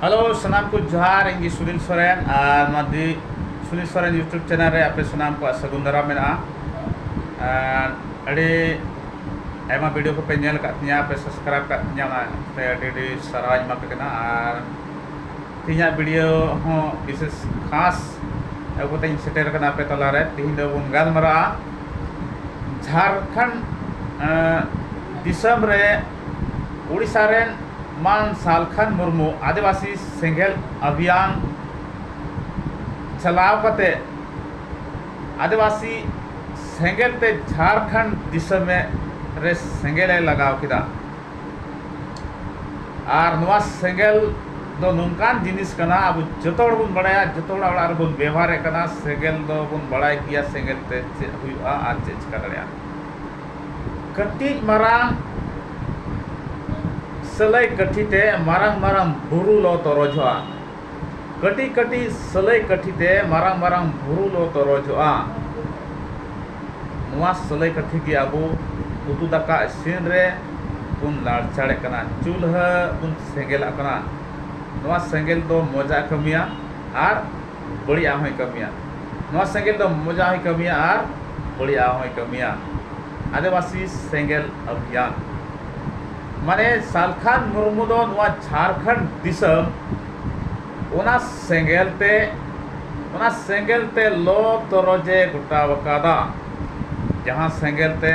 Hello ᱥᱟᱱᱟᱢ ᱠᱚ ᱡᱚᱦᱟᱨ ᱤᱧ ᱜᱮ ᱥᱩᱱᱤᱞ ᱥᱚᱨᱮᱱ ᱟᱨ ᱱᱚᱣᱟ ᱫᱤ ᱥᱩᱱᱤᱞ ᱥᱚᱨᱮᱱ ᱤᱭᱩᱴᱩᱵᱽ ᱪᱮᱱᱮᱞ ᱨᱮ ᱟᱯᱮ ᱥᱟᱱᱟᱢ ᱠᱚᱣᱟᱜ ᱥᱟᱹᱜᱩᱱ ᱫᱟᱨᱟᱢ ᱢᱮᱱᱟᱜᱼᱟ ᱟᱨ ᱟᱹᱰᱤ ᱟᱭᱢᱟ ᱵᱷᱤᱰᱤᱭᱳ ᱠᱚᱯᱮ ᱧᱮᱞ ᱟᱠᱟᱫ ᱛᱤᱧᱟ ᱯᱮ ᱥᱟᱵᱥᱠᱨᱟᱭᱤᱵᱽ ᱟᱠᱟᱫ ᱛᱤᱧᱟ ᱚᱱᱟᱛᱮ ᱟᱹᱰᱤ ᱟᱹᱰᱤ ᱥᱟᱨᱦᱟᱣᱤᱧ ᱮᱢᱟ ᱯᱮ ᱠᱟᱱᱟ ᱟᱨ ᱛᱤᱦᱤᱧᱟᱜ ᱵᱷᱤᱰᱤᱭᱳ ᱦᱚᱸ ᱵᱤᱥᱮᱥ ᱠᱷᱟᱥ ᱟᱹᱜᱩ ᱠᱟᱛᱮᱧ ᱥᱮᱴᱮᱨ ᱟᱠᱟᱱᱟ ᱟᱯᱮ ᱛᱟᱞᱟᱨᱮ ᱛᱤᱦᱤᱧ ᱫᱚ ᱵᱚᱱ ᱜᱟᱞᱢᱟᱨᱟᱜᱼᱟ ᱡᱷᱟᱨᱠᱷᱚᱸᱰ ᱫᱤᱥᱚᱢ ᱨᱮ ᱳᱰᱤᱥᱟ ᱨᱮᱱ ᱢᱟᱱ ᱥᱟᱞᱠᱷᱟᱱ ᱢᱩᱨᱢᱩ ᱟᱹᱫᱤᱵᱟᱹᱥᱤ ᱥᱮᱸᱜᱮᱞ ᱚᱵᱷᱤᱭᱟᱱ ᱪᱟᱞᱟᱣ ᱠᱟᱛᱮ ᱟᱹᱫᱤᱵᱟᱹᱥᱤ ᱥᱮᱸᱜᱮᱞ ᱛᱮ ᱡᱷᱟᱲᱠᱷᱚᱸᱰ ᱫᱤᱥᱚᱢ ᱨᱮ ᱥᱮᱸᱜᱮᱞ ᱮ ᱞᱟᱜᱟᱣ ᱠᱮᱫᱟ ᱟᱨ ᱱᱚᱣᱟ ᱥᱮᱸᱜᱮᱞ ᱫᱚ ᱱᱚᱝᱠᱟᱱ ᱡᱤᱱᱤᱥ ᱠᱟᱱᱟ ᱟᱵᱚ ᱡᱚᱛᱚ ᱦᱚᱲ ᱵᱚᱱ ᱵᱟᱲᱟᱭᱟ ᱡᱚᱛᱚ ᱦᱚᱲᱟᱜ ᱚᱲᱟᱜ ᱨᱮᱵᱚᱱ ᱵᱮᱵᱚᱦᱟᱨᱮᱫ ᱠᱟᱱᱟ ᱥᱮᱸᱜᱮᱞ ᱫᱚᱵᱚᱱ ᱵᱟᱲᱟᱭ ᱜᱮᱭᱟ ᱥᱮᱸᱜᱮᱞ ᱛᱮ ᱪᱮᱫ ᱦᱩᱭᱩᱜᱼᱟ ᱟᱨ ᱪᱮᱫ ᱪᱤᱠᱟᱹ ᱫᱟᱲᱮᱭᱟᱜᱼᱟ ᱠᱟᱹᱴᱤᱡ ᱢᱟᱨᱟᱝ ᱥᱟᱹᱞᱟᱹᱭ ᱠᱟᱹᱴᱷᱤ ᱛᱮ ᱢᱟᱨᱟᱝ ᱢᱟᱨᱟᱝ ᱵᱩᱨᱩ ᱞᱚ ᱛᱚᱨᱚᱡᱚᱜᱼᱟ ᱠᱟᱹᱴᱤᱡ ᱠᱟᱹᱴᱤᱡ ᱥᱟᱹᱞᱟᱹᱭ ᱠᱟᱹᱴᱷᱤ ᱛᱮ ᱢᱟᱨᱟᱝ ᱢᱟᱨᱟᱝ ᱵᱩᱨᱩ ᱞᱚ ᱛᱚᱨᱚᱡᱚᱜᱼᱟ ᱱᱚᱣᱟ ᱥᱟᱹᱞᱟᱹᱭ ᱠᱟᱹᱴᱷᱤ ᱜᱮ ᱟᱵᱚ ᱩᱛᱩ ᱫᱟᱠᱟ ᱤᱥᱤᱱ ᱨᱮ ᱵᱚᱱ ᱞᱟᱲᱪᱟᱲᱮᱫ ᱠᱟᱱᱟ ᱪᱩᱞᱦᱟᱹ ᱵᱚᱱ ᱥᱮᱸᱜᱮᱞᱟᱜ ᱠᱟᱱᱟ ᱱᱚᱣᱟ ᱥᱮᱸᱜᱮᱞ ᱫᱚ ᱢᱚᱡᱽ ᱟᱜ ᱮ ᱠᱟᱹᱢᱤᱭᱟ ᱟᱨ ᱵᱟᱹᱲᱤᱡ ᱟᱜ ᱦᱚᱸᱭ ᱠᱟᱹᱢᱤᱭᱟ ᱱᱚᱣᱟ ᱥᱮᱸᱜᱮᱞ ᱫᱚ ᱢᱚᱡᱽ ᱟᱜ ᱦᱚᱸᱭ ᱠᱟᱹᱢᱤᱭᱟ ᱟᱨ ᱵᱟᱹᱲᱤᱡ ᱟᱜ ᱦᱚᱸᱭ ᱠᱟᱹᱢᱤᱭᱟ ᱟᱹᱫᱤᱵᱟᱹᱥᱤ ᱥᱮᱸᱜᱮᱞ ᱟᱵᱷᱤᱭᱟᱱ ᱢᱟᱱᱮ ᱥᱟᱞᱠᱷᱟᱱ ᱢᱩᱨᱢᱩ ᱫᱚ ᱱᱚᱣᱟ ᱡᱷᱟᱲᱠᱷᱚᱸᱰ ᱫᱤᱥᱚᱢ ᱚᱱᱟ ᱥᱮᱸᱜᱮᱞ ᱛᱮ ᱚᱱᱟ ᱥᱮᱸᱜᱮᱞ ᱛᱮ ᱞᱚ ᱛᱚᱨᱚᱡ ᱮ ᱜᱚᱴᱟ ᱟᱠᱟᱫᱟ ᱡᱟᱦᱟᱸ ᱥᱮᱸᱜᱮᱞ ᱛᱮ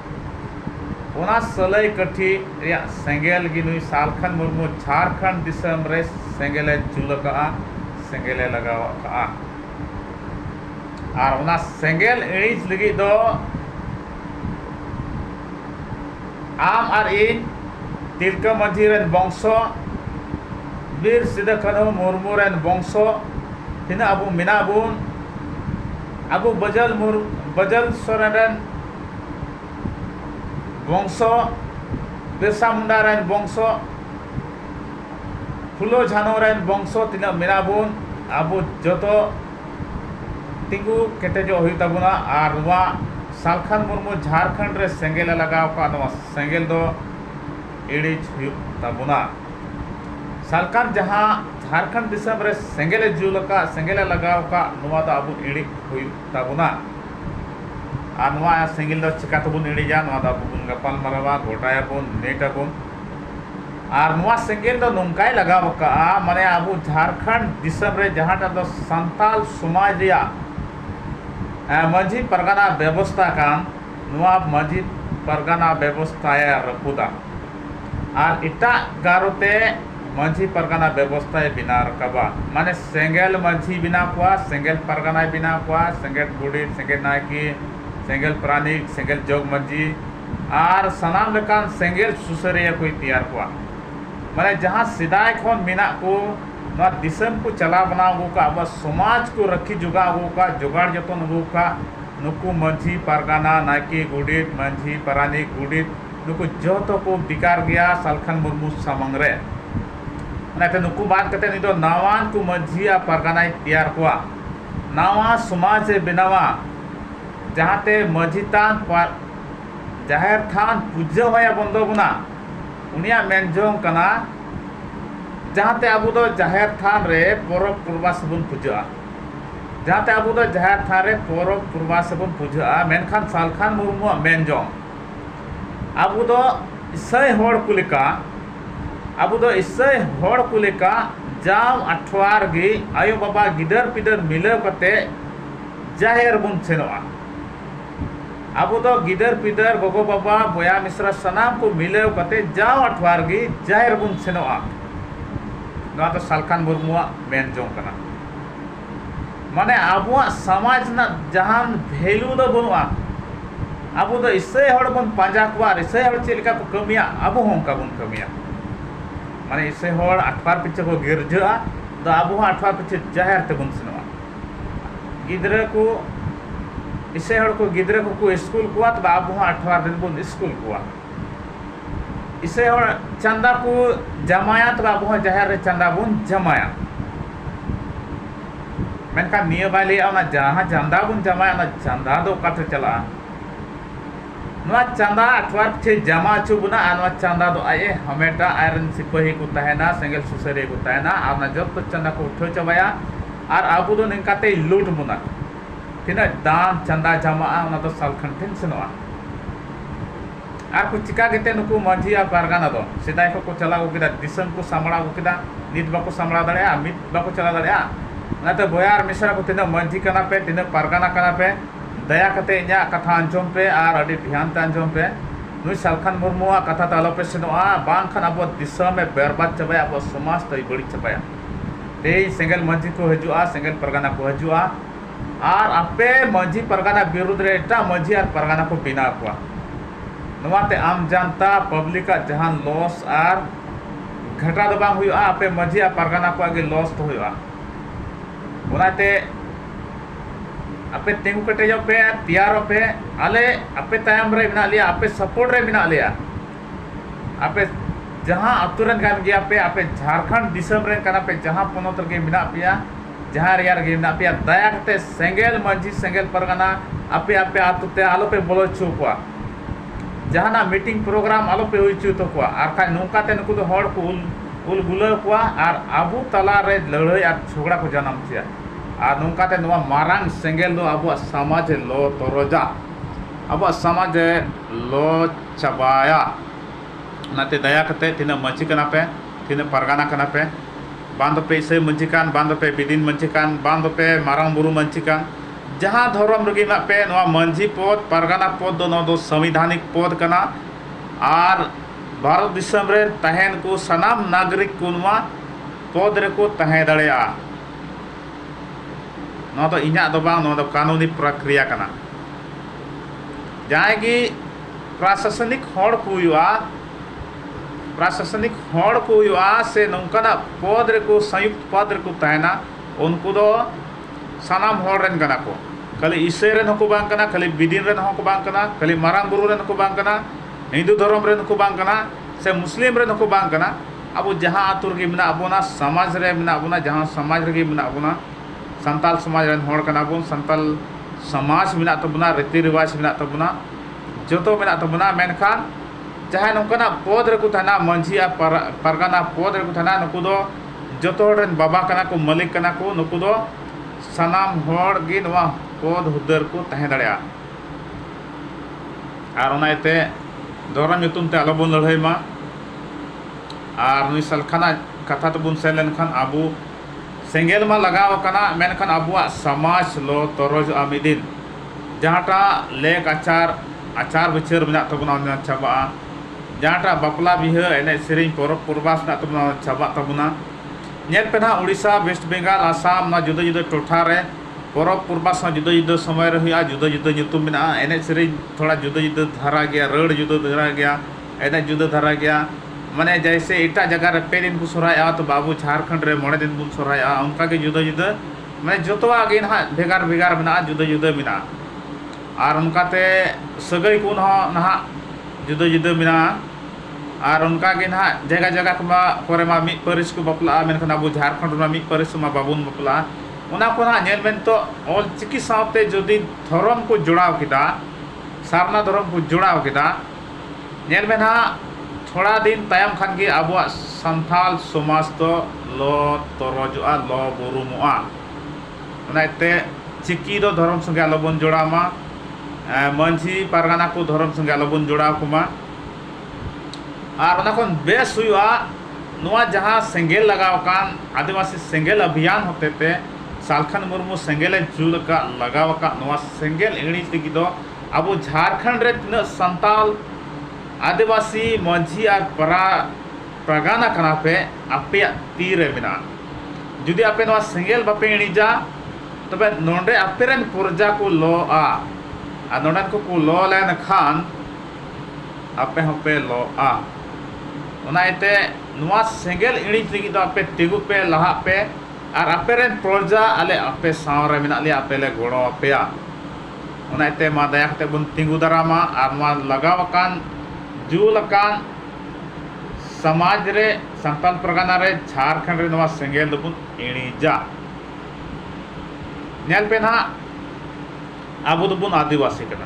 ᱚᱱᱟ ᱥᱟᱹᱞᱟᱹᱭ ᱠᱟᱹᱴᱷᱤ ᱨᱮᱭᱟᱜ ᱥᱮᱸᱜᱮᱞ ᱜᱮ ᱱᱩᱭ ᱥᱟᱞᱠᱷᱟᱱ ᱢᱩᱨᱢᱩ ᱡᱷᱟᱨᱠᱷᱚᱸᱰ ᱫᱤᱥᱚᱢ ᱨᱮ ᱥᱮᱸᱜᱮᱞ ᱮ ᱡᱩᱞ ᱟᱠᱟᱫᱼᱟ ᱥᱮᱸᱜᱮᱞ ᱮ ᱞᱟᱜᱟᱣ ᱟᱠᱟᱫᱼᱟ ᱟᱨ ᱚᱱᱟ ᱥᱮᱸᱜᱮᱞ ᱤᱬᱤᱡ ᱞᱟᱹᱜᱤᱫ ᱫᱚ ᱟᱢ ᱟᱨ ᱤᱧ ᱛᱤᱞᱠᱟᱹ ᱢᱟᱹᱡᱷᱤ ᱨᱮᱱ ᱵᱚᱝᱥᱚ ᱵᱤᱨ ᱥᱤᱫᱩ ᱠᱟᱹᱱᱦᱩ ᱢᱩᱨᱢᱩ ᱨᱮᱱ ᱵᱚᱝᱥᱚ ᱛᱤᱱᱟᱹᱜ ᱟᱵᱚ ᱢᱮᱱᱟᱜ ᱵᱚᱱ ᱟᱵᱚ ᱵᱟᱹᱡᱟᱹᱞ ᱢᱩᱨᱢᱩ ᱵᱟᱹᱡᱟᱹᱞ ᱥᱚᱨᱮᱱ ᱨᱮᱱ ᱵᱚᱝᱥᱚ ᱵᱤᱨᱥᱟ ᱢᱩᱱᱰᱟ ᱨᱮᱱ ᱵᱚᱝᱥᱚ ᱯᱷᱩᱞᱳ ᱡᱷᱟᱱᱚ ᱨᱮᱱ ᱵᱚᱝᱥᱚ ᱛᱤᱱᱟᱹᱜ ᱢᱮᱱᱟᱜ ᱵᱚᱱ ᱟᱵᱚ ᱡᱚᱛᱚ ᱛᱤᱸᱜᱩ ᱠᱮᱴᱮᱡᱚᱜ ᱦᱩᱭᱩᱜ ᱛᱟᱵᱚᱱᱟ ᱟᱨ ᱱᱚᱣᱟ ᱥᱟᱞᱠᱷᱟᱱ ᱢᱩᱨᱢᱩ ᱡᱷᱟᱲᱠᱷᱚᱸᱰ ᱨᱮ ᱥᱮᱸᱜᱮᱞ ᱮ ᱞᱟᱜᱟᱣ ᱟᱠᱟᱫ ᱱᱚᱣᱟ ᱥᱮᱸᱜᱮᱞ ᱫᱚ ᱤᱬᱤᱡᱽ ᱦᱩᱭᱩᱜ ᱛᱟᱵᱚᱱᱟ ᱥᱟᱞᱠᱷᱟᱱ ᱡᱟᱦᱟᱸ ᱡᱷᱟᱲᱠᱷᱚᱸᱰ ᱫᱤᱥᱚᱢ ᱨᱮ ᱥᱮᱸᱜᱮᱞ ᱮ ᱡᱩᱞ ᱟᱠᱟᱫ ᱥᱮᱸᱜᱮᱞ ᱮ ᱞᱟᱜᱟᱣ ᱟᱠᱟᱫ ᱱᱚᱣᱟ ᱫᱚ ᱟᱵᱚ ᱤᱬᱤᱡᱽ ᱦᱩᱭᱩᱜ ᱛᱟᱵᱚᱱᱟ ᱛᱟᱵᱚᱱᱟ ᱟᱨ ᱱᱚᱣᱟ ᱥᱮᱸᱜᱮᱞ ᱫᱚ ᱪᱤᱠᱟᱹ ᱛᱮᱵᱚᱱ ᱤᱲᱤᱡᱟ ᱱᱚᱣᱟ ᱫᱚ ᱟᱵᱚ ᱵᱚᱱ ᱜᱟᱯᱟᱞ ᱢᱟᱨᱟᱣᱟ ᱜᱚᱴᱟᱭᱟᱵᱚᱱ ᱢᱮᱴ ᱟᱵᱚᱱ ᱟᱨ ᱱᱚᱣᱟ ᱥᱮᱸᱜᱮᱞ ᱫᱚ ᱱᱚᱝᱠᱟᱭ ᱞᱟᱜᱟᱣ ᱟᱠᱟᱫᱼᱟ ᱢᱟᱱᱮ ᱟᱵᱚ ᱡᱷᱟᱲᱠᱷᱚᱸᱰ ᱫᱤᱥᱚᱢ ᱨᱮ ᱡᱟᱦᱟᱸᱴᱟᱜ ᱫᱚ ᱥᱟᱱᱛᱟᱲ ᱥᱚᱢᱟᱡᱽ ᱨᱮᱭᱟᱜ ᱢᱟᱺᱡᱷᱤ ᱯᱟᱨᱜᱟᱱᱟ ᱵᱮᱵᱚᱥᱛᱷᱟ ᱠᱟᱱ ᱱᱚᱣᱟ ᱢᱟᱺᱡᱷᱤ ᱯᱟᱨᱜᱟᱱᱟ ᱵᱮᱵᱚᱥᱛᱷᱟᱭᱮ ᱨᱟᱹᱯᱩᱫᱟ ᱟᱨ ᱮᱴᱟᱜ ᱜᱟᱨᱚ ᱛᱮ ᱢᱟᱹᱡᱷᱤ ᱯᱟᱨᱜᱟᱱᱟ ᱵᱮᱵᱚᱥᱛᱟᱭ ᱵᱮᱱᱟᱣ ᱨᱟᱠᱟᱵᱟ ᱢᱟᱱᱮ ᱥᱮᱸᱜᱮᱞ ᱢᱟᱹᱡᱷᱤᱭ ᱵᱮᱱᱟᱣ ᱠᱚᱣᱟ ᱥᱮᱸᱜᱮᱞ ᱯᱟᱨᱜᱟᱱᱟᱭ ᱵᱮᱱᱟᱣ ᱠᱚᱣᱟ ᱥᱮᱸᱜᱮᱞ ᱜᱚᱰᱮᱛ ᱥᱮᱸᱜᱮᱞ ᱱᱟᱭᱠᱮ ᱥᱮᱸᱜᱮᱞ ᱯᱟᱨᱟᱱᱤᱠ ᱥᱮᱸᱜᱮᱞ ᱡᱚᱜᱽ ᱢᱟᱹᱡᱷᱤ ᱟᱨ ᱥᱟᱱᱟᱢ ᱞᱮᱠᱟᱱ ᱥᱮᱸᱜᱮᱞ ᱥᱩᱥᱟᱹᱨᱤᱭᱟᱹ ᱠᱚᱭ ᱛᱮᱭᱟᱨ ᱠᱚᱣᱟ ᱢᱟᱱᱮ ᱡᱟᱦᱟᱸ ᱥᱮᱫᱟᱭ ᱠᱷᱚᱱ ᱢᱮᱱᱟᱜ ᱠᱚ ᱱᱚᱣᱟ ᱫᱤᱥᱚᱢ ᱠᱚ ᱪᱟᱞᱟᱣ ᱵᱟᱱᱟᱣ ᱟᱹᱜᱩ ᱟᱠᱟᱫ ᱟᱵᱚᱣᱟᱜ ᱥᱚᱢᱟᱡᱽ ᱠᱚ ᱨᱟᱹᱠᱷᱤ ᱡᱚᱜᱟᱣ ᱟᱹᱜᱩ ᱟᱠᱟᱫ ᱡᱚᱜᱟᱲ ᱡᱚᱛᱚᱱ ᱟᱹᱜᱩ ᱟᱠᱟᱫ ᱱᱩᱠᱩ ᱢᱟᱹᱡᱷᱤ ᱯᱟᱨᱜᱟᱱᱟ ᱱᱟᱭᱠᱮ ᱜᱚᱰᱮᱛ ᱢᱟᱹᱡᱷᱤ ᱯᱟᱨᱟᱱᱤᱠ ᱜᱚᱰᱮᱛ ᱱᱩᱠᱩ ᱡᱚᱛᱚ ᱠᱚ ᱵᱮᱠᱟᱨ ᱜᱮᱭᱟ ᱥᱟᱞᱠᱷᱟᱱ ᱢᱩᱨᱢᱩ ᱥᱟᱢᱟᱝ ᱨᱮ ᱚᱱᱟᱛᱮ ᱱᱩᱠᱩ ᱵᱟᱫ ᱠᱟᱛᱮ ᱱᱩᱭ ᱫᱚ ᱱᱟᱣᱟᱱ ᱠᱚ ᱢᱟᱹᱡᱷᱤ ᱟᱨ ᱯᱟᱨᱜᱟᱱᱟᱭ ᱛᱮᱭᱟᱨ ᱠᱚᱣᱟ ᱱᱟᱣᱟ ᱥᱚᱢᱟᱡᱽ ᱮ ᱵᱮᱱᱟᱣᱟ ᱡᱟᱦᱟᱸᱛᱮ ᱢᱟᱹᱡᱷᱤ ᱛᱷᱟᱱ ᱡᱟᱦᱮᱨ ᱛᱷᱟᱱ ᱯᱩᱡᱟᱹ ᱦᱚᱸᱭ ᱵᱚᱱᱫᱚ ᱵᱚᱱᱟ ᱩᱱᱤᱭᱟᱜ ᱢᱮᱱ ᱡᱚᱝ ᱠᱟᱱᱟ ᱡᱟᱦᱟᱸᱛᱮ ᱟᱵᱚ ᱫᱚ ᱡᱟᱦᱮᱨ ᱛᱷᱟᱱ ᱨᱮ ᱯᱚᱨᱚᱵᱽ ᱯᱩᱨᱵᱟᱥ ᱵᱚᱱ ᱯᱩᱡᱟᱹᱜᱼᱟ ᱡᱟᱦᱟᱸᱛᱮ ᱟᱵᱚ ᱫᱚ ᱡᱟᱦᱮᱨ ᱛᱷᱟᱱ ᱨᱮ ᱯᱚᱨᱚᱵᱽ ᱯᱩᱨᱵᱟᱥ ᱵᱚᱱ ᱯᱩᱡᱟᱹᱜᱼᱟ ᱢᱮᱱᱠᱷᱟᱱ ᱥᱟᱞᱠᱷᱟᱱ ᱢᱩᱨᱢᱩᱣᱟᱜ ᱢᱮᱱ ᱡᱚᱝ ᱟᱵᱚ ᱫᱚ ᱤᱥᱟᱹᱭ ᱦᱚᱲ ᱠᱚ ᱞᱮᱠᱟ ᱟᱵᱚ ᱫᱚ ᱤᱥᱟᱹᱭ ᱦᱚᱲ ᱠᱚ ᱞᱮᱠᱟ ᱡᱟᱣ ᱟᱴᱷᱣᱟ ᱨᱮᱜᱮ ᱟᱭᱳ ᱵᱟᱵᱟ ᱜᱤᱫᱟᱹᱨ ᱯᱤᱫᱟᱹᱨ ᱢᱤᱞᱟᱹᱣ ᱠᱟᱛᱮ ᱡᱟᱦᱮᱨ ᱵᱚᱱ ᱥᱮᱱᱚᱜᱼᱟ ᱟᱵᱚ ᱫᱚ ᱜᱤᱫᱟᱹᱨ ᱯᱤᱫᱟᱹᱨ ᱜᱚᱜᱚ ᱵᱟᱵᱟ ᱵᱚᱭᱟ ᱢᱤᱥᱨᱟ ᱥᱟᱱᱟᱢ ᱠᱚ ᱢᱤᱞᱟᱹᱣ ᱠᱟᱛᱮ ᱡᱟᱣ ᱟᱴᱷᱣᱟ ᱨᱮᱜᱮ ᱡᱟᱦᱮᱨ ᱵᱚᱱ ᱥᱮᱱᱚᱜᱼᱟ ᱱᱚᱣᱟ ᱫᱚ ᱥᱟᱞᱠᱷᱟᱱ ᱢᱩᱨᱢᱩᱣᱟᱜ ᱢᱮᱱ ᱡᱚᱝ ᱠᱟᱱᱟ ᱢᱟᱱᱮ ᱟᱵᱚᱣᱟᱜ ᱥᱚᱢᱟᱡᱽ ᱨᱮᱱᱟᱜ ᱡᱟᱦᱟᱱ ᱵᱷᱮᱞᱩ ᱫᱚ ᱵᱟᱹᱱᱩᱜᱼᱟ ᱟᱵᱚ ᱫᱚ ᱤᱥᱟᱹᱭ ᱦᱚᱲ ᱵᱚᱱ ᱯᱟᱸᱡᱟ ᱠᱚᱣᱟ ᱟᱨ ᱤᱥᱟᱹᱭ ᱦᱚᱲ ᱪᱮᱫ ᱞᱮᱠᱟ ᱠᱚ ᱠᱟᱹᱢᱤᱭᱟ ᱟᱵᱚ ᱦᱚᱸ ᱚᱱᱠᱟ ᱵᱚᱱ ᱠᱟᱹᱢᱤᱭᱟ ᱢᱟᱱᱮ ᱤᱥᱟᱹᱭ ᱦᱚᱲ ᱟᱴᱷᱣᱟᱨ ᱯᱤᱪᱷᱩ ᱠᱚ ᱜᱤᱨᱡᱟᱹᱜᱼᱟ ᱟᱫᱚ ᱟᱵᱚ ᱦᱚᱸ ᱟᱴᱷᱣᱟᱨ ᱯᱤᱪᱷᱩ ᱡᱟᱦᱮᱨ ᱛᱮᱵᱚᱱ ᱥᱮᱱᱚᱜᱼᱟ ᱜᱤᱫᱽᱨᱟᱹ ᱠᱚ ᱤᱥᱟᱹᱭ ᱦᱚᱲ ᱠᱚ ᱜᱤᱫᱽᱨᱟᱹ ᱠᱚᱠᱚ ᱤᱥᱠᱩᱞ ᱠᱚᱣᱟ ᱛᱚᱵᱮ ᱟᱵᱚ ᱦᱚᱸ ᱟᱴᱷᱣᱟᱨ ᱨᱮᱱ ᱵᱚᱱ ᱤᱥᱠᱩᱞ ᱠᱚᱣᱟ ᱤᱥᱟᱹᱭ ᱦᱚᱲ ᱪᱟᱸᱫᱟ ᱠᱚ ᱡᱟᱢᱟᱭᱟ ᱛᱚᱵᱮ ᱟᱵᱚ ᱦᱚᱸ ᱡᱟᱦᱮᱨ ᱨᱮ ᱪᱟᱸᱫᱟ ᱵᱚᱱ ᱡᱟᱢᱟᱭᱟ ᱢᱮᱱᱠᱷᱟᱱ ᱱᱤᱭᱟᱹ ᱵᱟᱭ ᱞᱟᱹᱭᱟ ᱚᱱᱟ ᱡᱟᱦᱟᱸ ᱪᱟᱸᱫᱟ ᱵᱚᱱ ᱡᱟᱢᱟᱭᱟ ᱚᱱᱟ ᱪᱟᱸᱫᱟ ᱫᱚ ᱚᱠᱟᱛᱮ ᱪᱟᱞᱟᱜᱼᱟ ᱱᱚᱣᱟ ᱪᱟᱸᱫᱟ ᱟᱴᱷᱣᱟᱨ ᱯᱤᱪᱷᱮ ᱡᱟᱢᱟ ᱦᱚᱪᱚ ᱵᱚᱱᱟ ᱟᱨ ᱱᱚᱣᱟ ᱪᱟᱸᱫᱟ ᱫᱚ ᱟᱡ ᱮ ᱦᱟᱢᱮᱴᱟ ᱟᱡ ᱨᱮᱱ ᱥᱤᱯᱟᱹᱦᱤ ᱠᱚ ᱛᱟᱦᱮᱱᱟ ᱥᱮᱸᱜᱮᱞ ᱥᱩᱥᱟᱹᱨᱤᱭᱟᱹ ᱠᱚ ᱛᱟᱦᱮᱱᱟ ᱟᱨ ᱚᱱᱟ ᱡᱚᱛᱚ ᱪᱟᱸᱫᱟ ᱠᱚ ᱩᱴᱷᱟᱹᱣ ᱪᱟᱵᱟᱭᱟ ᱟᱨ ᱟᱵᱚ ᱫᱚ ᱱᱤᱝᱠᱟᱛᱮᱭ ᱞᱩᱴ ᱵᱚᱱᱟ ᱛᱤᱱᱟᱹᱜ ᱫᱟᱢ ᱪᱟᱸᱫᱟ ᱡᱟᱢᱟᱜᱼᱟ ᱚᱱᱟ ᱫᱚ ᱥᱟᱞ ᱠᱷᱟᱱ ᱠᱤᱱ ᱥᱮᱱᱚᱜᱼᱟ᱾ ᱟᱨ ᱠᱚ ᱪᱤᱠᱟᱹ ᱜᱮᱛᱮ ᱱᱩᱠᱩ ᱢᱟᱹᱡᱷᱤ ᱟᱨ ᱯᱟᱨᱜᱟᱱᱟ ᱫᱚ᱾ ᱥᱮᱫᱟᱭ ᱠᱷᱚᱱ ᱠᱚ ᱪᱟᱞᱟᱣ ᱟᱹᱜᱩ ᱠᱮᱫᱟ, ᱫᱤᱥᱚᱢ ᱠᱚ ᱥᱟᱢᱵᱽᱲᱟᱣ ᱟᱹᱜᱩ ᱠᱮᱫᱟ, ᱱᱤᱛ ᱵᱟᱠᱚ ᱥᱟᱢᱵᱽᱲᱟᱣ ᱫᱟᱲᱮᱭᱟᱜᱼᱟ, ᱢᱤᱫ ᱵᱟᱠᱚ ᱪᱟᱞᱟᱣ ᱫᱟᱲᱮᱭᱟᱜᱼᱟ᱾ ᱚᱱᱟᱛᱮ ᱵᱚᱭᱦᱟ ᱟᱨ ᱢᱤᱥᱨᱟ ᱠᱚ ᱛᱤᱱᱟᱹᱜ ᱢᱟᱹᱡᱷᱤ ᱠᱟᱱᱟ ᱯᱮ, ᱛᱤᱱᱟᱹᱜ ᱯᱟᱨᱜᱟᱱᱟ ᱠᱟᱱᱟ ᱯᱮ, ᱫᱟᱭᱟ ᱠᱟᱛᱮ ᱤᱧᱟᱜ ᱠᱟᱛᱷᱟ ᱟᱸᱡᱚᱢ ᱯᱮ ᱟᱨ ᱟᱹᱰᱤ ᱫᱷᱮᱭᱟᱱ ᱛᱮ ᱟᱸᱡᱚᱢ ᱯᱮ᱾ ᱱᱩᱭ ᱥᱟᱞᱠᱷᱟᱱ ᱢᱩᱨᱢᱩ ᱟᱜ ᱠᱟᱛᱷᱟ ᱛᱮ ᱟᱞᱚ ᱯᱮ ᱥᱮᱱᱚᱜᱼᱟ, ᱵᱟᱝ ᱠᱷᱟᱱ ᱟᱵᱚᱣᱟᱜ ᱫᱤᱥᱚᱢ ᱮ ᱵᱮᱨᱵᱟᱫᱽ ᱪᱟᱵᱟᱭᱟ, ᱟᱵᱚᱣᱟᱜ ᱥᱚᱢᱟᱡᱽ ᱫᱚᱭ ᱵᱟᱹᱲᱤᱡ ᱪᱟᱵᱟᱭᱟ᱾ ᱛᱮᱦᱮᱧ ᱥᱮᱸᱜᱮᱞ ᱢᱟᱹᱡᱷᱤ ᱠᱚ ᱦᱤᱡᱩᱜᱼᱟ ᱥᱮᱸᱜᱮᱞ ᱯᱟᱨᱜᱟᱱᱟ ᱠᱚ ᱦᱤᱡᱩᱜᱼᱟ ᱟᱨ ᱟᱯᱮ ᱢᱟᱹᱡᱷᱤ ᱯᱟᱨᱜᱟᱱᱟ ᱵᱤᱨᱩᱫᱷ ᱨᱮ ᱮᱴᱟᱜ ᱢᱟᱹᱡᱷᱤ ᱟᱨ ᱯᱟᱨᱜᱟᱱᱟ ᱠᱚ ᱵᱮᱱᱟᱣ ᱠᱚᱣᱟ ᱱᱚᱣᱟᱛᱮ ᱟᱢ ᱡᱟᱱᱛᱟ ᱯᱟᱵᱽᱞᱤᱠ ᱟᱜ ᱡᱟᱦᱟᱱ ᱞᱚᱥ ᱟᱨ ᱜᱷᱟᱴᱟ ᱫᱚ ᱵᱟᱝ ᱦᱩᱭᱩᱜᱼᱟ ᱟᱯᱮ ᱢᱟᱹᱡᱷᱤ ᱟᱨ ᱯᱟᱨᱜᱟᱱᱟ ᱠᱚᱣᱟᱜ ᱜᱮ ᱞᱚᱥ ᱫᱚ ᱦᱩᱭᱩᱜᱼᱟ ᱚᱱᱟᱛᱮ ᱟᱯᱮ ᱛᱤᱸᱜᱩ ᱠᱮᱴᱮᱡᱚᱜ ᱯᱮ ᱛᱮᱭᱟᱨᱚᱜ ᱯᱮ ᱟᱞᱮ ᱟᱯᱮ ᱛᱟᱭᱚᱢ ᱨᱮ ᱢᱮᱱᱟᱜ ᱞᱮᱭᱟ ᱟᱯᱮ ᱥᱟᱯᱳᱨᱴ ᱨᱮ ᱢᱮᱱᱟᱜ ᱞᱮᱭᱟ ᱟᱯᱮ ᱡᱟᱦᱟᱸ ᱟᱛᱳ ᱨᱮᱱ ᱠᱟᱱ ᱜᱮᱭᱟ ᱯᱮ ᱟᱯᱮ ᱡᱷᱟᱨᱠᱷᱚᱸᱰ ᱫᱤᱥᱚᱢ ᱨᱮᱱ ᱠᱟᱱᱟ ᱯᱮ ᱡᱟᱦᱟᱸ ᱯᱚᱱᱚᱛ ᱨᱮᱜᱮ ᱢᱮᱱᱟᱜ ᱯᱮᱭᱟ ᱡᱟᱦᱟᱸ ᱮᱨᱤᱭᱟ ᱨᱮᱜᱮ ᱢᱮᱱᱟᱜ ᱯᱮᱭᱟ ᱫᱟᱭᱟ ᱠᱟᱛᱮ ᱥᱮᱸᱜᱮᱞ ᱢᱟᱹᱡᱷᱤ ᱥᱮᱸᱜᱮᱞ ᱯᱟᱨᱜᱟᱱᱟ ᱟᱯᱮ ᱟᱯᱮ ᱟᱛᱳ ᱛᱮ ᱟᱞᱚ ᱯᱮ ᱵᱚᱞᱚ ᱦᱚᱪᱚ ᱟᱠᱚᱣᱟ ᱡᱟᱦᱟᱱᱟᱜ ᱢᱤᱴᱤᱝ ᱯᱨᱳᱜᱨᱟᱢ ᱟᱞᱚ ᱯᱮ ᱦᱩᱭ ᱦᱚᱪᱚ ᱛᱟᱠᱚᱣᱟ ᱟᱨ ᱵᱟᱠᱷᱟᱡ ᱱᱚᱝᱠᱟ ᱛᱮ ᱱᱩᱠᱩ ᱫᱚ ᱦᱚᱲ ᱠᱚ ᱩᱞ ᱩᱞ ᱜᱩᱞᱟᱹᱣ ᱠᱚᱣᱟ ᱟᱨ ᱟᱵᱚ ᱛᱟᱞᱟ ᱨᱮ ᱞᱟᱹᱲᱦᱟᱹᱭ ᱟᱨ ᱡᱷᱚᱜᱽᱲᱟ ᱠᱚ ᱡᱟᱱᱟᱢ ᱦᱚᱪᱚᱭᱟ ᱟᱨ ᱱᱚᱝᱠᱟ ᱛᱮ ᱱᱚᱣᱟ ᱢᱟᱨᱟᱝ ᱥᱮᱸᱜᱮᱞ ᱫᱚ ᱟᱵᱚᱣᱟᱜ ᱥᱚᱢᱟᱡᱽ ᱮ ᱞᱚ ᱛᱚᱨᱚᱡᱟ ᱟᱵᱚᱣᱟᱜ ᱥᱚᱢᱟᱡᱽ ᱮ ᱞᱚ ᱪᱟᱵᱟᱭᱟ᱾ ᱚᱱᱟᱛᱮ ᱫᱟᱭᱟ ᱠᱟᱛᱮ ᱛᱤᱱᱟᱹᱜ ᱢᱟᱹᱡᱷᱤ ᱠᱟᱱᱟ ᱯᱮ, ᱛᱤᱱᱟᱹᱜ ᱯᱟᱨᱜᱟᱱᱟ ᱠᱟᱱᱟ ᱯᱮ, ᱵᱟᱝ ᱫᱚ ᱯᱮ ᱤᱥᱟᱹᱭ ᱢᱟᱹᱡᱷᱤ ᱠᱟᱱ, ᱵᱟᱝ ᱫᱚ ᱯᱮ ᱵᱤᱫᱤᱱ ᱢᱟᱹᱡᱷᱤ ᱠᱟᱱ, ᱵᱟᱝ ᱫᱚ ᱯᱮ ᱢᱟᱨᱟᱝ ᱵᱩᱨᱩ ᱢᱟᱹᱡᱷᱤ ᱠᱟᱱ, ᱡᱟᱦᱟᱸ ᱫᱷᱚᱨᱚᱢ ᱨᱮᱜᱮ ᱢᱮᱱᱟᱜ ᱯᱮ, ᱱᱚᱣᱟ ᱢᱟᱹᱡᱷᱤ ᱯᱚᱫᱽ, ᱯᱟᱨᱜᱟᱱᱟ ᱯᱚᱫᱽ ᱫᱚ ᱱᱚᱣᱟ ᱫᱚ ᱥᱟᱸᱵᱤᱫᱷᱟᱱᱤᱠ ᱯᱚᱫᱽ ᱠᱟᱱᱟ ᱟᱨ ᱵᱷᱟᱨᱚᱛ ᱫᱤᱥᱟᱹᱢ ᱨᱮ ᱛᱟᱦᱮᱸᱱ ᱠᱚ ᱥᱟᱱᱟᱢ ᱱᱟᱜᱽᱨᱤᱠ ᱠᱚ ᱱᱚᱣᱟ ᱯᱚᱫᱽ ᱨᱮ ᱠᱚ ᱛᱟᱦᱮᱸ ᱫᱟᱲᱮᱭᱟᱜᱼᱟ᱾ ᱱᱚᱣᱟ ᱫᱚ ᱤᱧᱟᱜ ᱫᱚ ᱵᱟᱝ, ᱱᱚᱣᱟ ᱫᱚ ᱠᱟᱱᱩᱱᱤ ᱯᱨᱟᱠᱨᱤᱭᱟ ᱠᱟᱱᱟ᱾ ᱡᱟᱦᱟᱸᱭ ᱜᱮ ᱯᱨᱟᱥᱟᱥᱚᱱᱤᱠ ᱦᱚᱲ ᱠᱚ ᱦᱩᱭᱩᱜᱼᱟ ᱯᱨᱟᱥᱟᱥᱚᱱᱤᱠ ᱦᱚᱲ ᱠᱚ ᱦᱩᱭᱩᱜᱼᱟ ᱥᱮ ᱱᱚᱝᱠᱟᱱᱟᱜ ᱯᱚᱫᱽ ᱨᱮᱠᱚ ᱥᱚᱝᱭᱩᱠᱛ ᱯᱚᱫᱽ ᱨᱮᱠᱚ ᱛᱟᱦᱮᱱᱟ ᱩᱱᱠᱩ ᱫᱚ ᱥᱟᱱᱟᱢ ᱦᱚᱲ ᱨᱮᱱ ᱠᱟᱱᱟ ᱠᱚ ᱠᱷᱟᱹᱞᱤ ᱤᱥᱟᱹᱭ ᱨᱮᱱ ᱦᱚᱸᱠᱚ ᱵᱟᱝ ᱠᱟᱱᱟ ᱠᱷᱟᱹᱞᱤ ᱵᱤᱫᱤᱱ ᱨᱮᱱ ᱦᱚᱸᱠᱚ ᱵᱟᱝ ᱠᱟᱱᱟ ᱠᱷᱟᱹᱞᱤ ᱢᱟᱨᱟᱝ ᱵᱩᱨᱩ ᱨᱮᱱ ᱦᱚᱸᱠᱚ ᱵᱟᱝ ᱠᱟᱱᱟ ᱦᱤᱱᱫᱩ ᱫᱷᱚᱨᱚᱢ ᱨᱮᱱ ᱦᱚᱸᱠᱚ ᱵᱟᱝ ᱠᱟᱱᱟ ᱥᱮ ᱢᱩᱥᱞᱤᱢ ᱨᱮᱱ ᱦᱚᱸᱠᱚ ᱵᱟᱝ ᱠᱟᱱᱟ ᱟᱵᱚ ᱡᱟᱦᱟᱸ ᱟᱹᱛᱩ ᱨᱮᱜᱮ ᱢᱮᱱᱟᱜ ᱵᱚᱱᱟ ᱥᱚᱢᱟᱡᱽ ᱨᱮ ᱢᱮᱱᱟᱜ ᱵᱚᱱᱟ ᱡᱟᱦᱟᱸ ᱥᱚᱢᱟᱡᱽ ᱨᱮᱜᱮ ᱢᱮᱱᱟᱜ ᱵᱚᱱᱟ ᱥᱟᱱᱛᱟᱞ ᱥᱚᱢᱟᱡᱽ ᱨᱮᱱ ᱦᱚᱲ ᱠᱟᱱᱟ ᱵᱚᱱ ᱥᱟᱱᱛᱟᱞ ᱥᱚᱢᱟᱡᱽ ᱢᱮᱱᱟᱜ ᱛᱟᱵᱚᱱᱟ ᱨᱤᱛᱤ ᱨᱮᱣᱟᱡᱽ ᱢᱮᱱᱟᱜ ᱛᱟᱵᱚᱱᱟ ᱡᱚᱛᱚ ᱢᱮᱱᱟᱜ ᱛᱟᱵᱚᱱᱟ ᱢᱮᱱᱠᱷᱟᱱ ᱡᱟᱦᱟᱸᱭ ᱱᱚᱝᱠᱟᱱᱟᱜ ᱯᱚᱫᱽ ᱨᱮᱠᱚ ᱛᱟᱦᱮᱱᱟ ᱢᱟᱹᱡᱷᱤ ᱟᱨ ᱯᱟᱨᱜᱟᱱᱟ ᱯᱚᱫᱽ ᱨᱮᱠᱚ ᱛᱟᱦᱮᱱᱟ ᱱᱩᱠᱩ ᱫᱚ ᱡᱚᱛᱚ ᱦᱚᱲ ᱨᱮᱱ ᱵᱟᱵᱟ ᱠᱟᱱᱟ ᱠᱚ ᱢᱟᱹᱞᱤᱠ ᱠᱟᱱᱟ ᱠᱚ ᱱᱩᱠᱩ ᱫᱚ ᱥᱟᱱᱟᱢ ᱦᱚᱲ ᱜᱮ ᱱᱚᱣᱟ ᱯᱚᱫᱽ ᱦᱩᱫᱟᱹ ᱨᱮᱠᱚ ᱛᱟᱦᱮᱸ ᱫᱟᱲᱮᱭᱟᱜᱼᱟ ᱟᱨ ᱚᱱᱟ ᱤᱭᱟᱹᱛᱮ ᱫᱷᱚᱨᱚᱢ ᱧᱩᱛᱩᱢ ᱛᱮ ᱟᱞᱚ ᱵᱚᱱ ᱞᱟᱹᱲᱦᱟᱹᱭ ᱢᱟ ᱟᱨ ᱱᱩᱭ ᱥᱟᱞᱠᱷᱟᱱᱟᱜ ᱠᱟᱛᱷᱟ ᱛᱮᱵᱚᱱ ᱥᱮᱱ ᱞᱮᱱᱠᱷᱟᱱ ᱟᱵᱚ ᱥᱮᱸᱜᱮᱞ ᱢᱟ ᱞᱟᱜᱟᱣ ᱟᱠᱟᱱᱟ ᱢᱮᱱᱠᱷᱟᱱ ᱟᱵᱚᱣᱟᱜ ᱥᱟᱢᱟᱡᱽ ᱞᱚ ᱛᱚᱨᱚᱡᱚᱜᱼᱟ ᱢᱤᱫ ᱫᱤᱱ ᱡᱟᱦᱟᱸᱴᱟᱜ ᱞᱮᱠ ᱟᱪᱟᱨ ᱟᱪᱟᱨ ᱵᱤᱪᱟᱹᱨ ᱢᱮᱱᱟᱜ ᱛᱟᱵᱚᱱᱟ ᱚᱱᱟ ᱪᱟᱵᱟᱜᱼᱟ ᱡᱟᱦᱟᱸᱴᱟᱜ ᱵᱟᱯᱞᱟ ᱵᱤᱦᱟᱹ ᱮᱱᱮᱡ ᱥᱮᱨᱮᱧ ᱯᱚᱨᱚᱵᱽ ᱯᱚᱨᱵᱟᱥ ᱢᱮᱱᱟᱜ ᱛᱟᱵᱚᱱᱟ ᱚᱱᱟ ᱪᱟᱵᱟᱜ ᱛᱟᱵᱚᱱᱟ ᱧᱮᱞ ᱯᱮ ᱱᱟᱦᱟᱜ ᱳᱰᱤᱥᱟ ᱳᱭᱮᱥᱴ ᱵᱮᱝᱜᱚᱞ ᱟᱥᱟᱢ ᱱᱚᱣᱟ ᱡᱩᱫᱟᱹ ᱡᱩᱫᱟᱹ ᱴᱚᱴᱷᱟ ᱨᱮ ᱯᱚᱨᱚᱵᱽ ᱯᱚᱨᱵᱟᱥ ᱦᱚᱸ ᱡᱩᱫᱟᱹ ᱡᱩᱫᱟᱹ ᱥᱚᱢᱚᱭ ᱨᱮ ᱦᱩᱭᱩᱜᱼᱟ ᱡᱩᱫᱟᱹ ᱡᱩᱫᱟᱹ ᱧᱩᱛᱩᱢ ᱢᱮᱱᱟᱜᱼᱟ ᱮᱱᱮᱡ ᱥᱮᱨᱮᱧ ᱛᱷᱚᱲᱟ ᱡᱩᱫᱟᱹ ᱡᱩᱫᱟᱹ ᱫᱷᱟᱨᱟ ᱜᱮᱭᱟ ᱨᱟᱹᱲ ᱡᱩᱫᱟᱹ ᱫᱷᱟᱨᱟ ᱜᱮᱭᱟ ᱮᱱᱮᱡ ᱡᱩᱫᱟᱹ ᱫᱷᱟᱨᱟ ᱜᱮᱭᱟ ᱢᱟᱱᱮ ᱡᱮᱭᱥᱮ ᱮᱴᱟᱜ ᱡᱟᱭᱜᱟ ᱨᱮ ᱯᱮ ᱫᱤᱱ ᱠᱚ ᱥᱚᱦᱨᱟᱭᱚᱜᱼᱟ ᱛᱚᱵᱮ ᱟᱵᱚ ᱡᱷᱟᱲᱠᱷᱚᱸᱰ ᱨᱮ ᱢᱚᱬᱮ ᱫᱤᱱ ᱵᱚᱱ ᱥᱚᱦᱨᱟᱭᱚᱜᱼᱟ ᱚᱱᱠᱟ ᱜᱮ ᱡᱩᱫᱟᱹ ᱡᱩᱫᱟᱹ ᱢᱟᱱᱮ ᱡᱚᱛᱚᱣᱟᱜ ᱜᱮ ᱱᱟᱦᱟᱜ ᱵᱷᱮᱜᱟᱨ ᱵᱷᱮᱜᱟᱨ ᱢᱮᱱᱟᱜᱼᱟ ᱡᱩᱫᱟᱹ ᱡᱩᱫᱟᱹ ᱢᱮᱱᱟᱜᱼᱟ ᱟᱨ ᱚᱱᱠᱟ ᱛᱮ ᱥᱟᱹᱜᱟᱹᱭ ᱠᱚ ᱦᱚᱸ ᱱᱟᱦᱟᱜ ᱡᱩᱫᱟᱹ ᱡᱩᱫᱟᱹ ᱢᱮᱱᱟᱜᱼᱟ ᱟᱨ ᱚᱱᱠᱟ ᱜᱮ ᱱᱟᱦᱟᱜ ᱡᱟᱭᱜᱟ ᱡᱟᱭᱜᱟ ᱠᱚᱢᱟ ᱠᱚᱨᱮ ᱢᱟ ᱢᱤᱫ ᱯᱟᱹᱨᱤᱥ ᱠᱚ ᱵᱟᱯᱞᱟᱜᱼᱟ ᱢᱮᱱᱠᱷᱟᱱ ᱟᱵᱚ ᱡᱷᱟᱲᱠᱷᱚᱸᱰ ᱨᱮᱢᱟ ᱢᱤᱫ ᱯᱟᱹᱨᱤᱥ ᱨᱮᱢᱟ ᱵᱟᱵᱚᱱ ᱵᱟᱯᱞᱟᱜᱼᱟ ᱚᱱᱟ ᱠᱚ ᱦᱟᱸᱜ ᱧᱮᱞ ᱵᱮᱱ ᱱᱤᱛᱚᱜ ᱚᱞ ᱪᱤᱠᱤ ᱥᱟᱶᱛᱮ ᱡᱩᱫᱤ ᱫᱷᱚᱨᱚᱢ ᱠᱚ ᱡᱚᱲᱟᱣ ᱠᱮᱫᱟ ᱥᱟᱨᱱᱟ ᱫᱷᱚᱨᱚᱢ ᱠᱚ ᱡᱚᱲᱟᱣ ᱠᱮᱫᱟ ᱧᱮᱞ ᱢᱮ ᱱᱟᱦᱟᱜ ᱛᱷᱚᱲᱟ ᱫᱤᱱ ᱛᱟᱭᱚᱢ ᱠᱷᱟᱱ ᱜᱮ ᱟᱵᱚᱣᱟᱜ ᱥᱟᱱᱛᱟᱞ ᱥᱚᱢᱟᱡᱽ ᱫᱚ ᱞᱚ ᱛᱚᱨᱚᱡᱚᱜᱼᱟ ᱞᱚ ᱵᱩᱨᱩᱢᱚᱜᱼᱟ ᱚᱱᱟ ᱤᱭᱟᱹᱛᱮ ᱪᱤᱠᱤ ᱫᱚ ᱫᱷᱚᱨᱚᱢ ᱥᱚᱸᱜᱮ ᱟᱞᱚ ᱵᱚᱱ ᱡᱚᱲᱟᱣ ᱢᱟ ᱢᱟᱺᱡᱷᱤ ᱯᱟᱨᱜᱟᱱᱟ ᱠᱚ ᱫᱷᱚᱨᱚᱢ ᱥᱚᱸᱜᱮ ᱟᱞᱚ ᱵᱚᱱ ᱡᱚᱲᱟᱣ ᱠᱚᱢᱟ ᱟᱨ ᱚᱱᱟ ᱠᱷᱚᱱ ᱵᱮᱥ ᱦᱩᱭᱩᱜᱼᱟ ᱱᱚᱣᱟ ᱡᱟᱦᱟᱸ ᱥᱮᱸᱜᱮᱞ ᱞᱟᱜᱟᱣ ᱟᱠᱟᱱ ᱟᱹᱫᱤᱵᱟᱹᱥᱤ ᱥᱮᱸᱜᱮᱞ ᱚᱵᱷᱤᱭᱟᱱ ᱦᱚᱛᱮᱛᱮ ᱥᱟᱞᱠᱷᱟᱱ ᱢᱩᱨᱢᱩ ᱥᱮᱸᱜᱮᱞᱮ ᱡᱩᱞ ᱟᱠᱟᱫ ᱞᱟᱜᱟᱣ ᱟᱠᱟᱫ ᱱᱚᱣᱟ ᱥᱮᱸᱜᱮᱞ ᱤᱬᱤᱡᱽ ᱞᱟᱹᱜᱤᱫ ᱫᱚ ᱟᱵᱚ ᱡᱷᱟᱨᱠᱷᱚᱸᱰ ᱨᱮ ᱛᱤᱱᱟᱹᱜ ᱥᱟᱱᱛᱟᱞ ᱟᱹᱫᱤᱵᱟᱹᱥᱤ ᱢᱟᱹᱡᱷᱤ ᱟᱨ ᱯᱟᱨᱟ ᱯᱟᱨᱜᱟᱱᱟ ᱠᱟᱱᱟ ᱯᱮ ᱟᱯᱮᱭᱟᱜ ᱛᱤ ᱨᱮ ᱢᱮᱱᱟᱜᱼᱟ ᱡᱩᱫᱤ ᱟᱯᱮ ᱱᱚᱣᱟ ᱥᱮᱸᱜᱮᱞ ᱵᱟᱯᱮ ᱤᱬᱤᱡᱟ ᱛᱚᱵᱮ ᱱᱚᱰᱮ ᱟᱯᱮ ᱨᱮᱱ ᱯᱨᱚᱡᱟ ᱠᱚ ᱞᱚᱜᱼᱟ ᱟᱨ ᱱᱚᱰᱮᱱ ᱠᱚ ᱠᱚ ᱞᱚ ᱞᱮᱱ ᱠᱷᱟᱱ ᱟᱯᱮ ᱦᱚᱸ ᱯᱮ ᱞᱚᱜᱼᱟ ᱚᱱᱟ ᱤᱭᱟᱹ ᱛᱮ ᱱᱚᱣᱟ ᱥᱮᱸᱜᱮᱞ ᱤᱬᱤᱡ ᱞᱟᱹᱜᱤᱫ ᱫᱚ ᱟᱯᱮ ᱛᱤᱸᱜᱩᱜ ᱯᱮ ᱞᱟᱦᱟᱜ ᱯᱮ ᱟᱨ ᱟᱯᱮ ᱨᱮᱱ ᱯᱨᱚᱡᱟ ᱟᱞᱮ ᱟᱯᱮ ᱥᱟᱶ ᱨᱮ ᱢᱮᱱᱟᱜ ᱞᱮᱭᱟ ᱟᱯᱮ ᱞᱮ ᱜᱚᱲᱚ ᱟᱯᱮᱭᱟ ᱚᱱᱟ ᱤᱭᱟᱹᱛᱮ ᱢᱟ ᱫᱟᱭᱟ ᱠᱟᱛᱮᱫ ᱵᱚᱱ ᱛᱤᱸᱜᱩ ᱫᱟᱨᱟᱢᱟ ᱟᱨ ᱱᱚᱣᱟ ᱞᱟᱜᱟᱣ ᱟᱠᱟᱱ ᱡᱩᱞ ᱟᱠᱟᱱ ᱥᱚᱢᱟᱡᱽ ᱨᱮ ᱥᱟᱱᱛᱟᱞ ᱯᱟᱨᱜᱟᱱᱟ ᱨᱮ ᱡᱷᱟᱨᱠᱷᱚᱸᱰ ᱨᱮ ᱱᱚᱣᱟ ᱥᱮᱸᱜᱮᱞ ᱫᱚᱵᱚᱱ ᱤᱬᱤᱡᱟ ᱧᱮᱞ ᱯᱮ ᱱᱟᱦᱟᱜ ᱟᱵᱚ ᱫᱚᱵᱚᱱ ᱟᱹᱫᱤᱵᱟᱹᱥᱤ ᱠᱟᱱᱟ